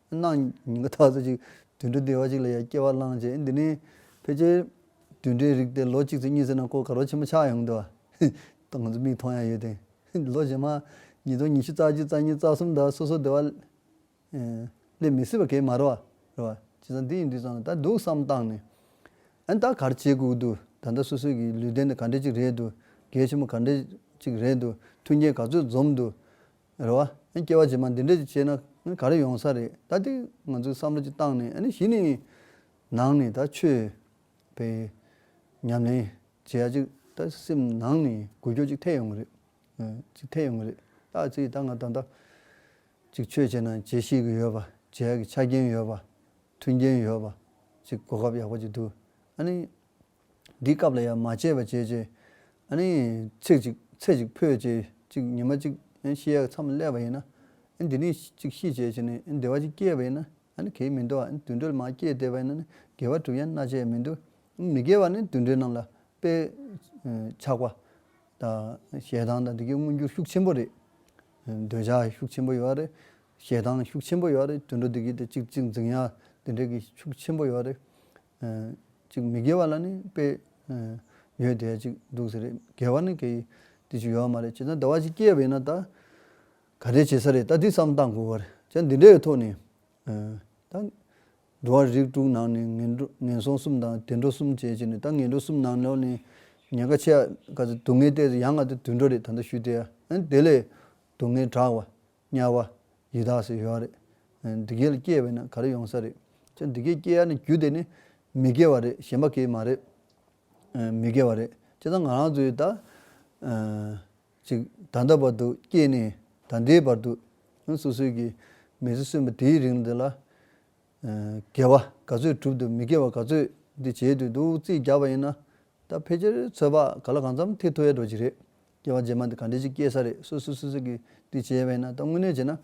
གནངས། ཉིན་ག་ཐག་ཏུ་ཅིག་དུད་འགྲོ་སྡེ་བ་ཅིག་ལ་ཡང་སྐྱེ་བ་བླངས་རྗེས་འདི་ནས་ཕལ་ཆེར་དུད་འགྲོའི་རིགས་དེ་ལོ་གཅིག་ཚེ་གཉིས་ཚེ་ན་ཀོ་ག་རོ་ཆེན་པོ་ཆགས་ཡོང་གི་འདུག་ང་ཚོ་མིག་མཐོང་ཡང་ཡོད་དེ། ལོ་རྗེས་མ་ཉིས་སྟོང་ཉི་ཤུ་རྩ་གཅིག་རྩ་གཉིས་རྩ་གསུམ་དག་སོ་སོའི་སྡེ་བ་ལས་མི་སྲིད་པ་གས་མ་རེད་བ། རེད་བ། ཇི་ཙམ་འདི་ཡིན་འདི་ཙམ་ལ་ད་འདུག་བསམ་བཏང་ནས། ཨ་ནི་ད་གར་བྱེད་དགོས་ཀྱི་འདུག་ད་ལྟ་སོ་སོའི་གི་ལུས་རྟེན་དེ་ག་འདྲས་ཅིག་རེད་འདུག་གལ་ཆེན་པོ་ག་འདྲས་ཅིག་རེད་འདུག་མཐུན་རྐྱེན་ག་ཚོད་འཛོམས་འདུག་རེད་བ། སྐྱེ་བ་རྗེས་མ་འདི་འདྲ་ཞིག་སྐྱེས་ན་ག་རེ་ཡོང་ས་རེད་ད་དེ་ང་ཚོའི་བསམ་བློ་གྱི་སྟངས་ནས་ཨ་ནི་གཞི་ནས་ནང་ནས་ད་ཆོས་པའི་ཉམས་ལེན་བྱེད་ཡ་ཅིག་ད་སེམས་ནང་ནས་གུ་སྐྱོ་ཅིག་ཐེག་ཡོང་གི་རེད། ཅིག་ཐེག་ཡོང་གི་རེད་ད་ཅིག་ད་ང་ད་ལྟ་ཅིག་ཆོས་བྱེད་ན་བྱེད་ཤེས་ཀྱི་ཡོད་པ་བྱེད་ཡ་གི་ཆ་རྐྱེན་ཡོད་པ་མཐུན་རྐྱེན་ཡོད་པ་ཅིག་གོ་སྐབས་ཡག་པོ་ཅིག་འདུག་ཨ་ནི། འདིའི་སྐབས་ལ་ཡང་མ་དཔྱད་པར་བྱས་རྗེས། ཨ་ནི། ཚིག་ཅིག་ཚད་ཅིག་ཕུད་རྗེས་གཅིག་ཉི་མ་གཅིག་ཤི་ཡའི་མཚམས་སླེབས་པ་ཡིན་ན། ཨ་འདི་ནི་གཅིག་ཤི་རྗེས་ཀྱི་ནི་བདེ་བ་གཅིག་སྐྱེས་པ་ཡིན་ན། ཨ་ནི་གེགས་མི་འདུག་ཨ་ནི་དུད་འགྲོ་ལ་མ་སྐྱེས་བདེ་བ་ཡིན་ན་ནི་དགེ་བ་གྲུབ་ཡང་སྣ་ཆད་མི་འདུག་ཨ་མི་དགེ་བ་ནི་དུད་འགྲོའི་རྣམས་ལ་དཔེ། ཆགས་པ་དང་ཞེ་སྡང་དང་འདི་གའི་མངོན་འགྱུར་ཤུགས་ཆེན་པོ་རེད། འདོད་ཆགས་ཤུགས་ཆེན་པོ་ཡོད་རེད། ཞེ་སྡང་ཤུགས་ཆེན་པོ་ཡོད་རེད་དུད་འགྲོ་འདི་གའི་དེ་གཅིག་གཅིག་འཛིན་ཡ་འདི་འདྲའི་གི་ཤུགས་ཆེན་པོ་ཡོད་རེད། ཅིག་མི་དགེ་བ་ལ་ནི་དཔེ། ཡོད་དེ་ཅིག་འདུག་ཟེར། དགེ་བ་ནི་དགེ། དེ་ཅིག་ཡོད་མ་རེད་ཅེ་ན་དེ་བ་ཅིག་སྐྱེས་པ་ཡིན་ན་ད། ག་རེ་བྱེད་ས་རེད་ད་འདི་བསམ་སྟངས་དགོས་བ་རེད་ཅེ་ན་འདི་འདྲའི་ཐོག་ནས། ད། འགྲོ་བ་རིགས་དྲུག་ནང་ནས་ངན་འགྲོ་ངན་སོང་གསུམ་དང་དུད་འགྲོ་གསུམ་བྱེད་ཅེ་ནས་ད་ངན་འགྲོ་གསུམ་ནང་ནོར་ནས། ཉེན་ཁ་ཆེ། སྡུག་བསྔལ་སྟེ་ཡང་ང་དེ་དུད་འགྲོ་རེད་ད་ལྟ་ཞུས་དེ། དེ་ལས་སྡུག་བསྔལ་དྲག་བ། དམྱལ་བ། ཡི་དྭགས་སུ་ཡོད་རེད། འདི་གའི་ལ་སྐྱེས་པས་ན་ག་རེ་ཡོང་ས་རེད། ཁྱོད་འདི་གའི་སྐྱེས་ཡ་ནི་རྒྱུ་དེ་ནི། མི་དགེ་བ་རེད་གཞན་པ་གིས་མ་རེད། མི་དགེ་བ་རེད་ཅེ་ཚང་ང་རང་ཚོའི་ད། ཅིག་ད་ལྟ་བར་དུ་སྐྱེས་ནས་ད་ལྟའི་བར་དུ། སོ་སོའི་གི་མི་ཚེ་གསོན་པ་དེའི་རིང་འདི་ལ། དགེ་བ་ག་ཚོད་བསྒྲུབ་འདུག་མི་དགེ་བ་ག་ཚོད་འདི་བྱེད་འདོད་འདུག་རྩིས་རྒྱག་པ་ཡིན་ན། ད་ཕལ་ཆེར་ཚོད་དཔག་ག་ལ་གང་འཚམ་ཐེག་ཐུབ་ཡ་འགྲོ་གི་རེད། སྐྱེ་བ་རྗེས་མ་འདི་ག་འདྲས་ཅིག་སྐྱེ་ས་རེད་སོ་སོ་སོ་སོ་གིས་དུས་བྱས་བས་ན་ད་དངོས་གནས་བྱས་ན།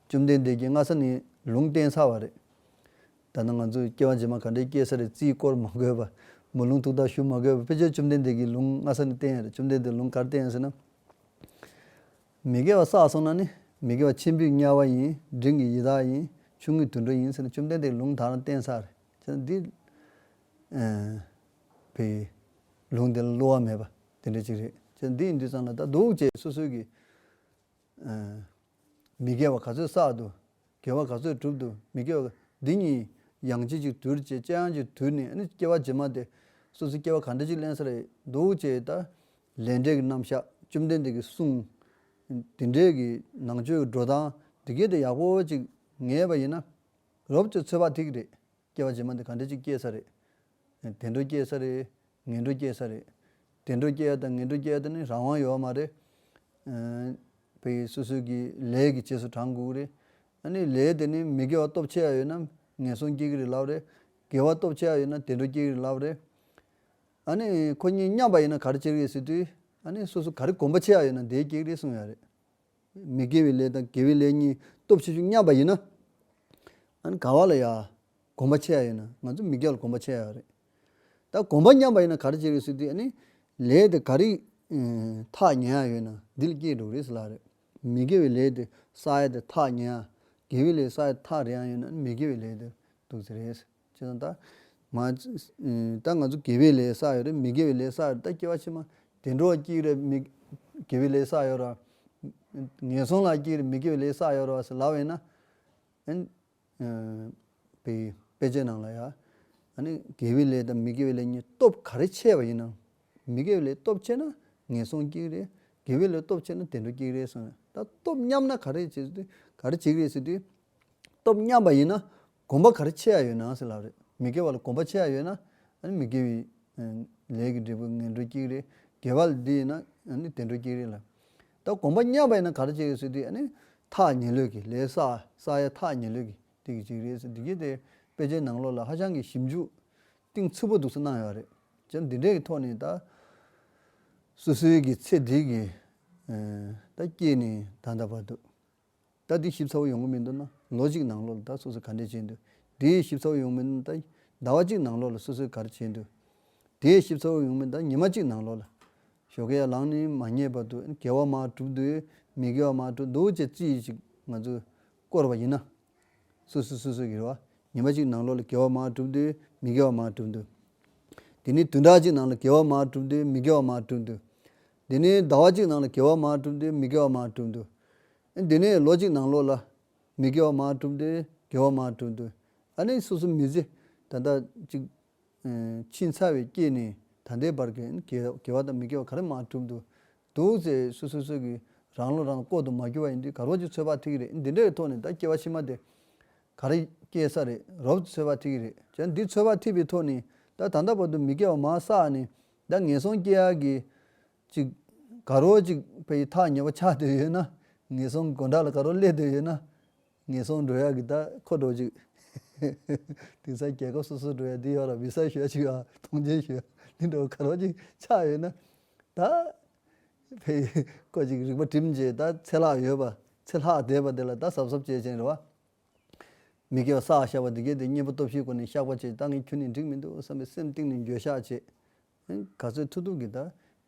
བཅོམ་ལྡན་འདས་ཀྱིས་སྔ་ས་ནས་ལུང་བསྟན་ཚར་བ་རེད། ད་ནང་ང་ཚོས་སྐྱེ་བ་རྗེས་མ་ག་འདྲས་སྐྱེ་ས་རེད་རྩིས་བསྐོར་མ་དགོས་པ། མོ་ལུང་ཐུགས་རྟགས་ཞུ་མ་དགོས་པ་ཕལ་ཆེར་བཅོམ་ལྡན་འདས་ཀྱིས་ལུང་སྔ་ས་ནས་བསྟན་ཡ་རེད་བཅོམ་ལྡན་འདས་ལུང་གར་བསྟན་ཡང་ཟེར་ན། མི་དགེ་བ་བསགས་སོང་ན་ནི་མི་དགེ་བ་ཆེན་པོའི་དམྱལ་བ་ཡིན་འབྲིང་གི་ཡི་དྭགས་ཡིན་ཆུང་ངུའི་དུད་འགྲོ་ཡིན་ཟེར་ན་བཅོམ་ལྡན་འདས་ཀྱིས་ལུང་དག་རང་བསྟན་ཚར་རེད་བྱས་ན་འདིས། བས། ལུང་འདི་ལ་བསླུ་བ་མེད་པ་དེ་འདྲ་གཅིག་རེད། ཁྱེད་འདི་ཡིན་འདི་ཙམ་ལ་ད་འདུག་ཅེས་སོ་སོའི་གི། མི་དགེ་བ་ག་ཚོད་བསགས་འདུག་དགེ་བ་ག་ཚོད་བསྒྲུབས་འདུག་མི་དགེ་བ་འདི་གཉིས་ཡང་ཅི་ཅིག་དུལ་ཅེས་དཔྱད་ཡང་ཅིག་དུལ་ནས་ནི་སྐྱེ་བ་ཇི་མ་དེ་སོ་སོའི་སྐྱེ་བ་ག་འདྲ་ཅིག་གླེང་ས་རེད་འདུག་ཅེས་ད་ལས་འབྲས་ཀྱི་རྣམ་བཞག་བཅོམ་ལྡན་འདས་ཀྱིས་གསུངས། དེ་འདྲའི་གི་ནང་ཆོས་ཀྱི་འགྲོ་སྟངས་འདི་གལ་ཏེ་ཡག་པོ་ཅིག་ངེས་པ་ཡིན་ན། རོབ་ཅོལ་ཚོད་དཔག་ཐིག་རེད། སྐྱེ་བ་རྗེས་མ་འདི་ག་འདྲ་ཅིག་སྐྱེ་ས་རེད། དེ་འདྲ་སྐྱེ་ས་རེད། ངན་འགྲོ་སྐྱེ་ས་རེད། དེ་འདྲ་སྐྱེ་ཡ་དང་ངན་འགྲོ་སྐྱེ་ཡ་དེ་ནི་རང་དབང་ཡོད་མ་རེད། བོད་ཡིག་སོ་སོའི་གི་ལས་གི་རྗེས་སུ་འབྲང་དགོས་ཀྱི་རེད། ཨ་ནི་ལས་དེ་ནི་མི་དགེ་བ་སྟོབས་ཆེ་ཡ་ཡོད་ན་ངན་སོང་སྐྱེ་གི་རེད་ལབ་རེད། དགེ་བ་སྟོབས་ཆེ་ཡ་ཡོད་ན་དེ་འདྲ་སྐྱེ་གི་རེད་ལབ་རེད། ཨ་ནི་ཁོ་གཉིས་མཉམ་པ་ཡིན་ན་ག་རེ་སྐྱེ་གི་རེད་ཟེར་དུས། ཨ་ནི་སོ་སོ་ག་རེ་གོམས་པ་ཆེ་ཡ་ཡོད་ན་དེ་སྐྱེ་གི་རེད་གསུངས་ཡ་རེད། མི་དགེ་བའི་ལས་དང་དགེ་བའི་ལས་གཉིས་སྟོབས་ཆེ་ཆུང་མཉམ་པ་ཡིན་ན། ཨཱ་ག་བ་ལ་ཡང་གོམས་པ་ཆེ་ཡ་ཡིན་ན་ང་ཚོ་མི་དགེ་བ་ལ་གོམས་པ་ཆེ་ཡ་རེད། ད་གོམས་པ་མཉམ་པ་ཡིན་ན་ག་རེ་བྱེད་རེད་ཟེར་དུས་ལས་དེ་ག་རེ་ཐག་ཉེ་ཡ་ཡོད་ན་འདི་ལ་སྐྱེལ་འགྲོ་གི་རེད་ཟེར་ལབ་རེད། མི་དགེ་བའི་ལས་དེ་ས་ཡ་དེ་ཐག་ཉེ་ཡ། དགེ་བའི་ལས་ས་ཡ་དེ་ཐག་རེ་ཡ་ཡོད་ན་མི་དགེ་བའི་ལས་དེར་འདུག་ཟེར་རེད། ཅེས་དང། ད་ང་ཚོ་དགེ་བའི་ལས་བསགས་ཡོད་རེད་མི་དགེ་བའི་ལས་བསགས་ཡོད་རེད་ད་སྐྱེ་བ་ཕྱི་མ་དེ་འགྲོ་བ་སྐྱིད་རེད་མི་དགེ་བའི་ལས་བསགས་ཡོད་རེད། ངན་སོང་ལ་སྐྱིད་རེད་མི་དགེ་བའི་ལས་བསགས་ཡོད་རེད་ཟེར་ལབ་ཡོད་ན། ཨན། དཔེ་དཔེ་ཆའི་ནང་ལ་ཡང། ཨ་ནི་དགེ་བའི་ལས་དང་མི་དགེ་བའི་ལས་གཉིས་སྟོབས་ག་རེ་ཆེ་བ་ཡིན་ནམ། མི་དགེ་བའི་ལས་སྟོབས་ཆེ་ན་ངན་སོང་སྐྱིད་རེད། དགེ་བའི་ལས་སྟོབས་ཆེ་ན་དེ་འགྲོ་སྐྱིད་རེད་གསུངས་ཡོད། ད་སྟོབས་མཉམ་ན་ག་རེ་བྱེད་ག་རེ་བྱེད་རེད་ཟེར་དུས། སྟོབས་མཉམ་པ་ཡིན་ན་གོམ་པ་གར་ཆེ་ཡ་ཡོད་ནའང་སེ་ལབ་རེད་མི་དགེ་བ་ལ་གོམ་པ་ཆེ་ཡ་ཡོད་ན་ཨཱ་ནི་མི་དགེ་བའི་ལས་ཀྱི་འབྲས་བུ་ངན་འགྲོ་སྐྱིད་རེད་དགེ་བ་ལ་འདི་ཡིན་ན་ཨཱ་ནི་དེ་འགྲོ་སྐྱིད་རེད་ལ། ད་གོམ་པ་མཉམ་པ་ཡིན་ན་གར་ཆེ་གི་སེ་དེ་ཨཱ་ནི་ཐག་ཉེ་ལོས་ཀྱི་ལས་བསགས་བསགས་ཡ་ཐག་ཉེ་ལོས་ཀྱི་དེ་གི་ཅིག་རེད་སེ་འདི་གྱིས་དེ་དཔེ་ཆའི་ནང་ལོགས་ལ་ཧ་ཅང་གི་ཞིབ་འཇུག་གཏིང་ཚུད་པོ་འདུག་སེ་གནང་ཡོད་རེད་སྤྱིར་འདི་འདྲའི་གི་ཐོག་ནས་ད་སུ་སུའི་གི་ཚེ་འདི་གི་ད་སྐྱིད་ནི་ད་འདའ་བར་འདུག། ད་དེའི་ཞིབ་ཚགས་པོ་ཡོང་གི་མི་འདུག་ན་ལོ་གཅིག་ནང་ལོགས་ལ་ད་སོ་སོས་ག་འདྲས་བྱས་འདུག་དེའི་ཞིབ་ཚགས་པོ་ཡོང་གི་མི་འདུག་ན་ད་ཟླ་བ་གཅིག་ནང་ལོགས་ལ་སོ་སོས་གར་བྱས་འདུག་དེའི་ཞིབ་ཚགས་པོ་ཡོང་གི་མི་འདུག་ན་ཉི་མ་གཅིག་ནང་ལོགས་ལ། ཞོ་ཀེ་ཡ་ལང་ནི་མ་རྙེད་པ་འདུག་དགེ་བ་མ་གྲུབ་འདུག་མི་དགེ་བ་མ་གྲུབ་འདུག་ཅེས་ཅི་ཡིན་ཞིག་ང་ཚོས་བསྐོར་བ་ཡིན་ན། སོ་སོས་སོ་སོའི་གི་རེ་བ་ཉི་མ་གཅིག་ནང་ལོགས་ལ་དགེ་བ་མ་གྲུབ་འདུག་མི་དགེ་བ་མ་གྲུབ་འདུག་དེ་ནི་དུས་འདའ་གཅིག་ནང་ལ་དགེ་བ་མ་གྲུབ་འདུག་མི་དགེ་བ་མ་གྲུབ་འདུག་འདི་ནི་ཟླ་བ་གཅིག་ནང་ལ་དགེ་བ་མང་བསྒྲུབས་འདི་མི་དགེ་བ་མང་བསྒྲུབས་འདུག་ཨ་འདི་ནི་ལོ་གཅིག་ནང་ལོ་ལ་མི་དགེ་བ་མང་བསྒྲུབས་འདི་དགེ་བ་མང་བསྒྲུབས་འདུག་ཨ་ནི་སོ་སོ་མི་བཟི་ད་ལྟ་ཅིག། ཕྱིས་འཚར་བའི་སྐྱེས་ནི་ད་ལྟའི་བར་གྱི་དགེ་བ་དང་མི་དགེ་བ་ག་རེ་མང་བསྒྲུབས་འདུག་འདུག་ཚེ་སུ་སོ་སོ་གིས་རང་བློ་རང་ལྐོག་ཏུ་མ་གྱུར་བ་ཡིན་འདི་ག་རོགས་ཀྱིས་ཚོད་དཔག་ཐེག་གི་རེད་འདི་འདྲའི་ཐོག་ནས་ད་སྐྱེ་བ་ཕྱི་མ་དེ་ག་རེ་སྐྱེ་ས་རེད་རོགས་ཀྱིས་ཚོད་དཔག་ཐེག་གི་རེད་ཅེ་འདི་ཚོད་དཔག་ཐེག་པའི་ཐོག་ནས་ད་ད་ལྟ་བར་དུ་མི་དགེ་བ་མང་བསགས་ནས་ད་ངན་སོང་སྐྱེ་ཡག་གི། ཅིག། དགའ་རོགས་ཅིག་ཕ་ཡི་ཐག་ཉེ་བོ་ཆགས་སྡོད་ཡོད་ན། ངན་སོང་དགོད་འདྲ་ལ་དགའ་རོགས་སླེབས་སྡོད་ཡོད་ན། ངན་སོང་འགྲོ་ཡག་གི་ད་ཁོ་འགྲོ་ཅིག། དེང་སང་རྒྱལ་ཁབ་སོ་སོ་འགྲོ་ཡག་འདི་ཡོད་ལ་བི་སཱ་ཞོད་ཅིག་ཨ་ཐུང་ཅན་ཞོད་འདི་འདྲ་བོ་དགའ་རོགས་ཅིག་ཆགས་ཡོད་ན། ད། ཕའི། ཁོ་ཅིག་རིག་པ་གྲིམ་རྗེས་ད་ཚེ་ལྷག་ཡོད་པ་ཚེ་ལྷག་བསྡད་པ་དེ་ལ་ད་གཟབ་གཟབ་བྱས་ཅན་རེད་བ། མི་དགེ་བ་བསགས་བཞག་པ་འདི་སྐད་དེ་གཉེན་པོ་སྟོབས་བཞིའི་སྒོ་ནས་བཤགས་པ་བྱས་ཀྱི་ད་ངས་ཁྱོད་ནི་འགྲིག་མི་འདུག་བསམ་པའི་སེམས་གཏིང་ནས་འགྱོད་བཤགས་བྱེད། ག་ཚོད་མཐུ་ཐུག་གིས་ད་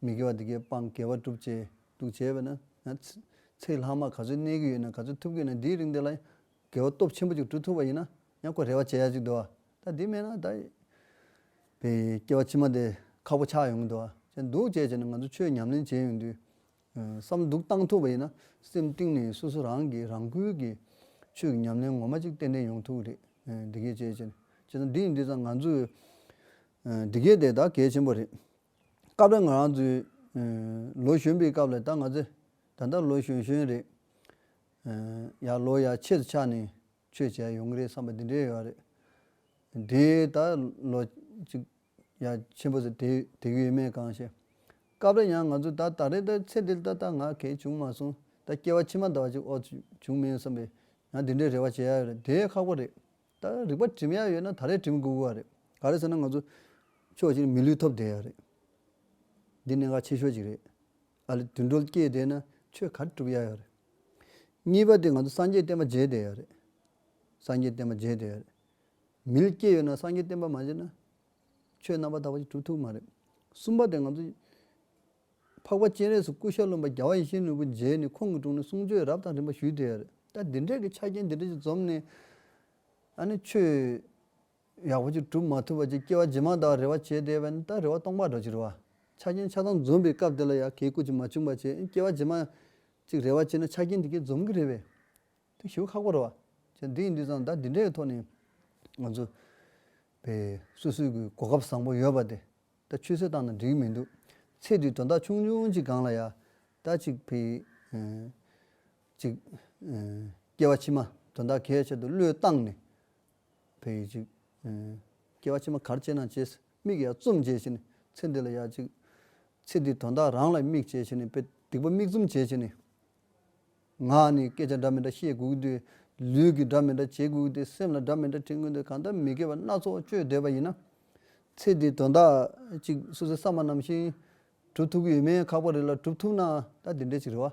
མི་དགེ་བ་འདི་སྐད་སྤང་དགེ་བ་བསྒྲུབ་ཅེས་འདུག་བྱས་པས་ན། ཚེ་ལྷག་མ་ག་ཚོད་གནས་ཀྱི་ཡོད་ནས་ག་ཚོད་ཐུབ་ཀྱི་ཡོད་ན་འདིའི་རིང་འདི་ལ་ཡང་དགེ་བ་སྟོབས་ཆེན་པོ་ཅིག་བསྒྲུབ་ཐུབ་པ་ཡིན་ན་ཡང་ཁོ་རེ་བ་བྱེད་ཡ་ཅིག་འདུག་ད་འདི་མེད་ན་ད་བའི་སྐྱེ་བ་ཕྱི་མ་དེ་ཁག་པོ་ཆགས་ཡོང་གི་འདུག་ཅེས་ནས་ང་ཚོ་ཆོས་ཉམས་ལེན་བྱས་ཡོང་དུས་བསམ་འདུག་བཏང་ཐུབ་པ་ཡིན་ན་སེམས་གཏིང་ནས་སོ་སོ་རང་གིས་རང་འགུལ་གྱིས་ཆོས་ཀྱི་ཉམས་ལེན་ངོ་མ་གཅིག་ཏན་ཏན་ཡོང་ཐུབ་གི་རེད། འདི་གལ་ཆེ། བྱས་ཙང་འདི་ཡིན་འདི་ཙང་ང་ཚོས་འདི་གལ་དེ་ད་གལ་ཆེན་པོ་རེད། སྐབས་རེ་ང་རང་ཚོའི་ལོ་གཞོན་པའི་སྐབས་ལ་ད་ང་ཚོས་ད་ལྟ་ལོ་གཞོན་གཞོན་རེད། ཡར་ལོ་ཡར་ཆེར་ཆགས་ནས། ཆོས་བྱས་ཡོང་གི་རེད་བསམ་པ་འདི་འདྲའི་ཡོད་རེད། དེ་ད་ལོ་ཅིག་ཡ་ཆེན་པོ་ཟེར་དེ་དེ་གི་ཡོད་མེད་གང་ཤེས། སྐབས་རེ་ཡང་ང་ཚོ་ད་ད་རེ་ད་ཚེ་འདི་ལྟ་ད་ང་གལ་བྱུང་མ་སོང་ད་སྐྱེ་བ་ཕྱི་མ་ད་བ་ཅིག་ཨོ་བྱུང་མིན་བསམ་པས་ཡང་དེ་འདྲའི་རེ་བ་བྱས་ཡ་ཡོད་རེད་དེ་ཁག་པོ་རེད། ད་རིག་པ་བྲིམ་ཡ་ཡོད་ན་ད་རེ་བྲིམ་དགོས་གི་བ་རེད་ག་རེ་ཟེར་ན་ང་ཚོ་ཕྱོགས་གཅིག་ནས་མི་ལུས་ཐོབ་བསྡད་ཡ་རེད། འདི་གནད་འགག་ཆེ་ཤོས་ཅིག་རེད། ཨ་ལས་དུད་འགྲོ་སྐྱེས་བསྡད་ན་ཆོས་ག་རེ་སྒྲུབ་ཡག་ཡོད་རེད། གཉིས་པ་དེ་ང་ཚོ་སངས་རྒྱས་བསྟན་པ་བརྗེད་བསྡད་ཡོད་རེད། སངས་རྒྱས་བསྟན་པ་བརྗེད་བསྡད་ཡོད་རེད། མི་ལ་སྐྱེས་ཡོད་ན་སངས་རྒྱས་བསྟན་པ་མ་བརྗེད་ན། ཆོས་རྣམ་པ་དག་པ་ཅིག་གྲུབ་ཐུབ་མ་རེད། གསུམ་པ་དེ་ང་ཚོ། འཕགས་པ་སྤྱན་རས་སུ་སྐུ་ཤ་རློན་པ་རྒྱལ་བ་ཡེ་ཤེས་ནོར་བུ་མཇལ་ནས་ཁོང་གི་དྲུང་ནས་གསུང་ཆོས་རབ་དང་རིམ་པ་ཞུས་བསྡད་ཡོད་རེད། ད་འདི་འདྲས་ཀྱི་ཆ་རྐྱེན་འདི་འདྲས་ཅིག་འཛོམས་ནས། ཨ་ནི་ཆོས། ཡག་པོ་ཅིག་གྲུབ་མ་ཐུབ་པ་ཅིག་སྐྱེ་བ་རྗེས་མ་དག་རེ་བ་བྱས་བསྡད་པས་ན་ད་རེ་བ་སྟོང་པར་འགྲོ་ཅི་རེ་བ། ཆ་རྐྱེན་ཆགས་སྡང་འཛོམས་པའི་སྐབས་དེ་ལ་ཡང་གེགས་བཀུར་ཅིག་མ་བྱུང་པར་བྱས་སྐྱེ་བ་རྗེས་མ། ཅིག་རེ་བ་བྱས་ན་ཆ་རྐྱེན་དེ་གས་འཛོམས་ཀྱི་རེད་པས། དེ་ཞུ་ཁག་པོ་རེད་བ། ཅེས་འདི་ཡིན་འདི་བཟང་ད་འདི་འདྲའི་ཐོག་ནས། ང་ཚོ། བས་སུད་སུད་ཀྱི་གོ་སྐབས་བཟང་པོ་ཡོད་པ་དེ། ད་ཆུད་ཟོས་བཏང་ན་འགྲིག་གི་མི་འདུག་ཚེ་འདིའི་དོན་དག་ཆུང་ཆུང་ཅིག་སྒང་ལ་ཡང། ད་ཅིག་བས། ཅིག། སྐྱེ་བ་ཕྱི་མ་དོན་དག་གས་ཆེད་དུ་བློས་བཏང་ནས། བས་ཡོད་ཅིག། སྐྱེ་བ་ཕྱི་མ་གར་སྐྱེ་ན་སྐྱེས། མིག་ཡར་བཙུམ་བྱས་ཕྱིར་ནི། ཚེ་འདི་ལ་ཡག་ཅིག། ཚེ་འདིའི་དོན་དག་རང་ལ་དམིགས་བྱས་ཕྱིར་ནི་དཔེ། སྡིག་པ་མིག་བཙུམ་བྱས་ཕྱིར་ནི། ངག་ནི་སྐད་ཆ་འདྲ་མི་འདྲ་བཤད་དགོས་ཀྱི་འདུག། ལུས་ཀྱིས་འདྲ་མི་འདྲ་བྱེད་དགོས་ཀྱི་འདུག་སེམས་ལ་འདྲ་མི་འདྲ་དྲན་དགོས་འདུག་གང་ལྟར་མི་དགེ་བ་སྣ་ཚོགས་སྤྱོད་སྡོད་པ་ཡིན་ན། ཚེ་འདིའི་དོན་དག་ཅིག་སུད་སི་ས་མ་ནམ་བཞིན། གྲུབ་ཐུབ་ཀྱི་ཡོད་མེད་ཁག་པ་རེ་ལ་གྲུབ་ཐུབ་ན་ད་འདི་འདྲའི་ཅིག་རེ་བ།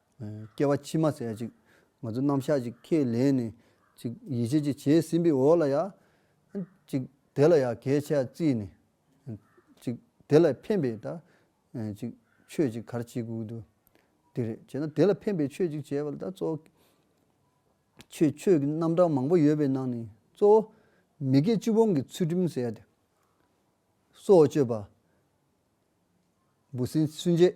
སྐྱེ་བ་ཕྱི་མ་ཟད་ཅིག། ང་ཚོ་རྣམ་གཞག་ཅིག་ཁས་ལེན་ནས། ཅིག་ཡིད་ཆེས་ཅིག་བྱས་ཟིན་པའི་འོག་ལ་ཡང། ཅིག་དེ་ལ་ཡང་གལ་ཆེ་བརྩིས་ནས། ཅིག་དེ་ལ་ཕན་པའི་ད། ཅིག་ཆོས་ཅིག་གར་བྱེད་དགོས་འདུག་དེ་རེད་བྱས་ན་དེ་ལ་ཕན་པའི་ཆོས་ཅིག་བྱས་པ་ལ་ད་གཙོ། ཆོས་ཆོས་ཀྱི་རྣམ་གྲངས་མང་པོ་ཡོད་པའི་ནང་ནས་གཙོ་བོ། མི་དགེ་བཅུ་སྤོང་གི་ཚུལ་ཁྲིམས་བསལ་ཏེ། སྲོག་གཅོད་པ། འབུ་སྲིན་ཚུན་ཆད།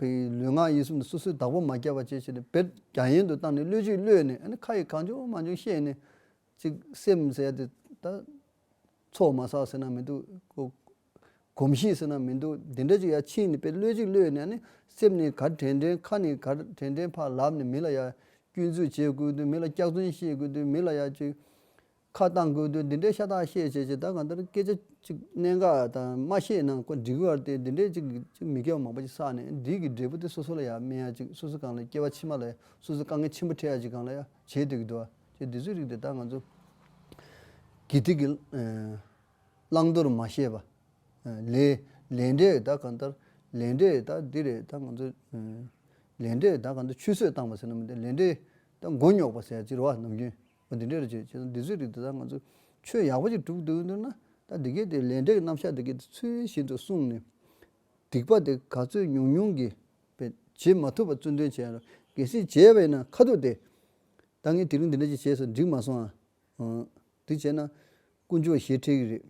བའི་ལུས་ངག་ཡིད་གསུམ་དུ་སོ་སོའི་བདག་པོ་མ་བསྐྱལ་བ་བཅས་བྱས་ནས་བེར་རྒྱ་ཡན་དུ་བཏང་ནས་བློས་བཅོས་བློས་ནས་ཨ་ཁ་ཡི་གང་བྱུང་མ་བྱུང་ཤེས་ནས། ཅིག་སེམས་ཟེར་དེ་ད། ཚོགས་མ་བསགས་ཟེར་ན་མི་འདུག། གོམས་གཤིས་ཟེར་ན་མི་འདུག་འདི་འདྲ་ཅིག་ཡ་ཕྱིན་ནས་བེར་བློས་བཅོས་བློས་ནས་ཨ་སེམས་ནི་གར་དྲན་དྲན་ཁ་ནི་གར་དྲན་དྲན་ཕར་ལབ་ནས་མི་ལ་ཡ། སྐྱོན་འཛུགས་བྱེད་དགོས་དུས་མི་ལ་སྐྱག་རྫུན་བཤད་དགོས་དུས་མི་ལ་ཡ། ཅིག་ཁ་བཏང་དགོས་དུས་འདི་འདྲའི་ཤ་ཏག་བཤད་བྱས་ཀྱི་ད་གང་ལྟར་སྐད་ཆ་ཅིག་གནད་འགག་དང་མ་བཤད་ན་ཀོ་འགྲིག་བར་ཏེ་འདི་འདྲའི་ཅིག་གིས་མི་སྐལ་བ་མང་པོ་ཅིག་བསགས་ནས་འདིས་ཀྱི་འབྲས་བུ་དེ་སོ་སོ་ལ་ཡང་སྨིན་ཡ་ཅིག་སོ་སོ་གང་ལ་སྐྱེ་བ་ཕྱི་མ་ལ་ཡང་སོ་སོས་དཀའ་ངལ་ཆེན་པོ་འཕྲད་ཡ་ཅིག་གང་ལ་ཡང་བྱེད་འདོད་ཀྱི་འདུག་ཅེས་འདི་ཚོའི་རིགས་དེ་ད་ང་ཚོ་གིས་ཐིག་གི་བླང་དོར་མ་བཤད་པ་ལས་ལས་འབྲས་ད་གང་ལྟར་ལས་འབྲས་ད་འདི་རེད་ད་ང་ཚོ་ལས་འབྲས་ད་གང་ལྟར་ཆུད་ཟོས་བཏང་བ་ཟེར་ན་མི་འདུག་ལས་འབྲས་ད་མགོ་རྙོག་པ་ཟེར་ཡ་ཅིག་རེད་བ་ནམ་རྒྱུན། བ་འདི་འདྲས་རེད་བྱས་ན་འདི་ཚོའི་རིགས་དེ་དག་ང་ཚོས་ཆོས་ཡག་པོ་ཅིག་སྒྲུབ་འདོད་འདོད་ན་ད་འདི་གའི་དེ་ལས་འབྲས་ཀྱི་རྣམ་གཞག་འདི་གའི་དེ་ཚུལ་བཞིན་དུ་གསུངས་ནས། སྡིག་པ་དེ་ག་ཚོད་ཉུང་ཉུང་གིས་བས་བྱེད་མ་ཐུབ་པ་བཙུན་དོན་བྱས་རོགས་གལ་སྲིད་བྱས་པ་ཡིན་ན་ཁ་ཐུག་དེ། ད་ངས་དེ་རིང་འདི་འདྲ་ཅིག་བྱས་སོ་འགྲིག་མ་སོང་ཨ། འདི་བྱས་ན་དཀོན་མཆོག་ཞེ་ཁྲེལ་གི་རེད།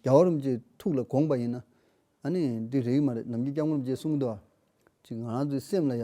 རྒྱ་བོ་རིན་པོ་ཆེའི་ཐུགས་ལ་དགོངས་པ་ཡིན་ན། ཨ་ནི་འདི་རེག་མ་རེད་ནམ་རྒྱུན་སྐྱབས་མགོན་རིན་པོ་ཆེས་གསུངས་གི་འདུག་ཨ། ཅིག་ང་རང་ཚོའི་སེམས་ལ་ཡ།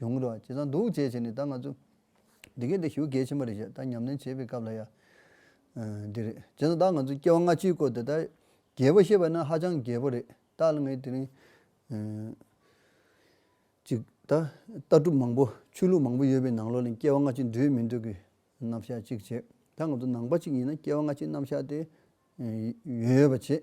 ཡོང་གི་འགྲོ་བ་ཇི་ཙམ་འདུག་ཅེས་བྱས་ནས་ད་ང་ཚོ་འདི་གའི་འདི་ཞུགས་གལ་ཆེན་པོ་རེད་བཤད་ད་ཉམས་ལེན་བྱེད་པའི་སྐབས་ལ་ཡ། འདི་རེད་བྱས་ཙང་ད་ང་ཚོ་སྐྱེ་བ་སྔ་ཕྱིའི་སྐོར་དེ་ལྟར་རྒྱས་པོ་བཤད་པ་ནི་ཧ་ཅང་རྒྱས་པོ་རེད་ད་ལ་ངས་དེ་རིང། གཅིག་ད་ལྟ་གྲུབ་མང་པོ་ཆོས་ལུགས་མང་པོ་ཡོད་པའི་ནང་ལོགས་ལ་སྐྱེ་བ་སྔ་ཕྱི་འདུས་མི་འདུས་ཀྱི་རྣམ་བཞག་གཅིག་བྱས་ད་ང་ཚོ་ནང་པ་གཅིག་ཡིན་ན་སྐྱེ་བ་སྔ་ཕྱིའི་རྣམ་བཞག་དེ་ཡོད་ཡོད་པ་བྱེད